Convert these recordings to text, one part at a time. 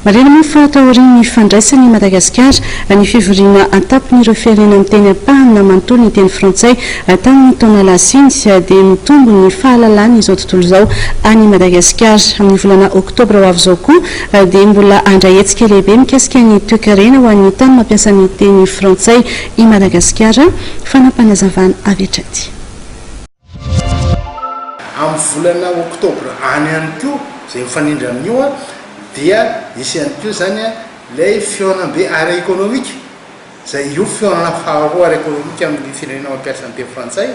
Marihina moa fa taorian'ny fandraisany i Madagasikara ny fivoriana an-tampon'ireo firenena miteny ampahany na manontolo ny teny frantsay tamin'ny taona lasa iny dia mitombo ny fahalalan'izao tontolo izao an'i Madagasikara. Amin'ny volana oktobra ho avy izao koa dia mbola handray hetsika lehibe mikasika ny toekarena ho an'ny tany mampiasa ny teny frantsay i Madagasikara, fanapanazavana avy hatrany. Amin'ny volana oktobra any ihany koa, izay mifanindry amin'io, dia hisy ihany koa izany ilay fihaonambe ara-ekonomika, izay io fihaonana faharoa ara-ekonomika amin'ny firenena mampiasa ny teny frantsay,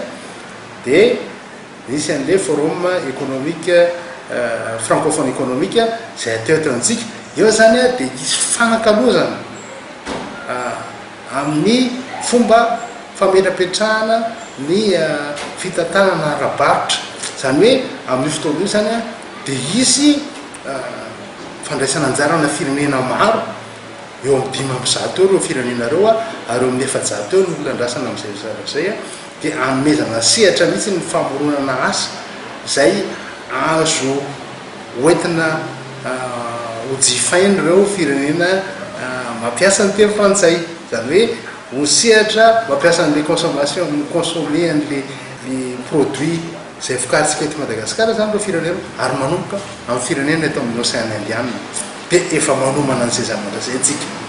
dia nisy an'ilay forum économique, francophone économique, izay hatao eto amintsika. Eo izany dia hisy fifanakalozana. amin'ny fomba fametrapetrahana ny fitantanana ara-barotra, izany hoe amin'io fotoana io izany dia hisy fandraisan'anjaranà firenena maro, eo amin'ny dimy amby zato eo ireo firenena ireo ary eo amin'ny efajato eo ny olona andrasana amin'izay resaka izay, dia hanomezana sehatra mihitsy ny famoronana asa izay azo. Hoentina hojifain' ireo firenena mampiasa ny teny frantsay, izany hoe ho sehatra mampiasa an'ilay consommation, mi-consommer an'ilay produit izay vokarintsika eto Madagasikara izany ireo firenena ary manomboka amin'ny firenena eto amin'ny Ocean Indiana dia efa manomana an'izay zavatra izay isika.